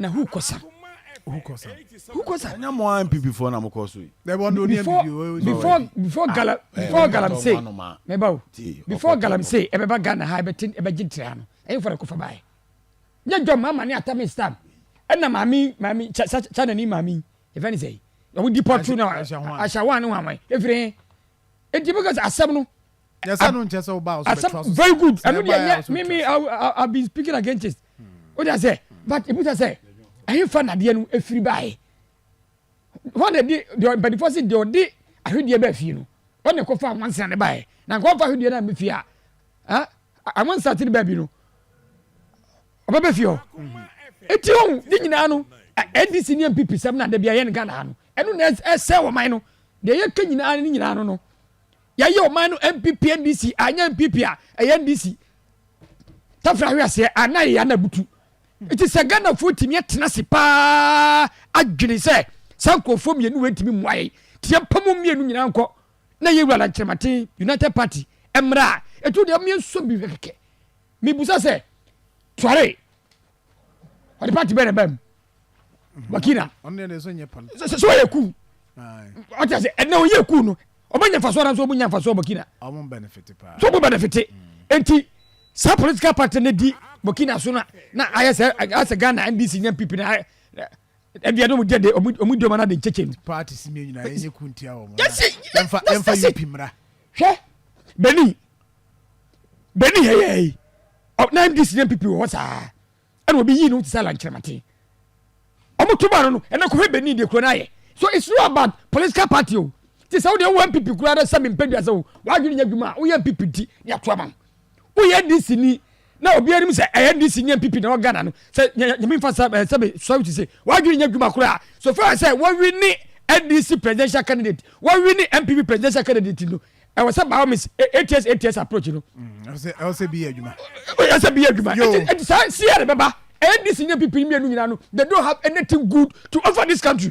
Na who kɔ sa. Who kɔ sa. Who kɔ sa. Ɛnyɛ mo ara NPP foɔ na mo kɔ so yi. Dɛbi ɔno ni NPP. Before before gala before galamsey mɛba o before galamsey ɛbɛba Ghana ha ɛbɛte ɛbɛgye ntere ha no ɛyɛ fɔlɔ kofa baayɛ. Nyɛ dwom mama ne atami stam ɛna maami maami cha cha cha nani maami yɛfɛ ne sɛ yi. Ɔmo di pɔtu na ahyɛ wɔn ne wɔn wɔn efiri he. Eti mo kasa asɛm no asɛm very good ɛno deɛ yɛ me me i been speaking against it o de asɛ but ebi ta sɛ ɛhefa nadeɛ no efiri baaye wɔn na di deɛ mpanyinfoɔ si deɛ ɔde ahwedeɛ bɛɛ fie no wɔn na ɛkɔfa awansa ne baaye na nkɔfa ahwedeɛ na ɛmɛ fie a ɛn awansa ti ne baabi no ɔbɛ bɛ fie hɔ eti ohun ne nyinaa no ndc ne npp sɛm na dabi ayɛ ne ghana ha no ɛno na ɛsɛ wɔn man no deɛ yɛ kɛ nyinaa ne nyinaa no no. Yɛyɛ ɔman no NPP NDC anyɛ NPP a ɛyɛ NDC. Tafra ahwe aseɛ a na yɛyɛ ana butu. Nti sɛ Ghanafoɔ tumi atena se paa adwene sɛ saa nkurɔfoɔ mmienu wei ntumi mmoa yɛn nti yɛmpa mu mmienu nyinaa nkɔ na yɛ wura lankyerɛmaten United Party mmra a ɛtu deɛ ɔmeɛ nsɔ bi hwɛ kɛkɛ. Mebusa sɛ tuare ɔde pati bɛn na ɛbaa mu wakina sɛ ɔyɛ kuu ɔte ase ɛnna ɔyɛ kuu no ɔbɛ nya nfaso adanso ɔbɛ nya nfaso burkina so ɔbɛ benefit mm. nti saa political party ne di burkina so na na ayɛ sɛ ayɛ sɛ ghana ndc nya pp na ayɛ ɛdi ɛdi ɔmu jɛ de ɔmu ɔmu di ɔmu anadi nkyɛkyɛ nu. paati si mi nyina ɛnyɛ kun tia wɔn. yasi yɛnfa yɛnfa yi pi mura. hwɛ benin benin yɛ yɛ yi. Ɔ na MDC ne NPP wɔ hɔ saa. Ɛna obi yii ne ho te sɛ Alan Kyerematen. Ɔmo to maa no no, ɛnɛ kɔhwɛ Benin deɛ kuro no ayɛ. So it's not about political party o. Te sɛ wo deɛ wowɔ NPP koraa na sɛ mempɛ duasa o, w'adwene nyɛ adwuma a, woyɛ NPP nti ne ato ama wo. Woyɛ NDC ni na obiara nim sɛ ɛyɛ NDC ne NPP na ɛwɔ Ghana no, sɛ Nyame mfa sɛ eh, sɛ me sɔre to se, w'adwene nyɛ adwuma koraa. So far sɛ wɔwini NDC presidential candidate, wɔwini NPP presidential candidate no, ɛwɔ sɛ by all means ats ats approach no ɛwɔ sɛ bi yɛ adwuma ɛwɔ sɛ bi yɛ adwuma ɛti saa si yɛ de bɛba ndc nye pp mmienu nyinaa no they don't have anything good to offer this country.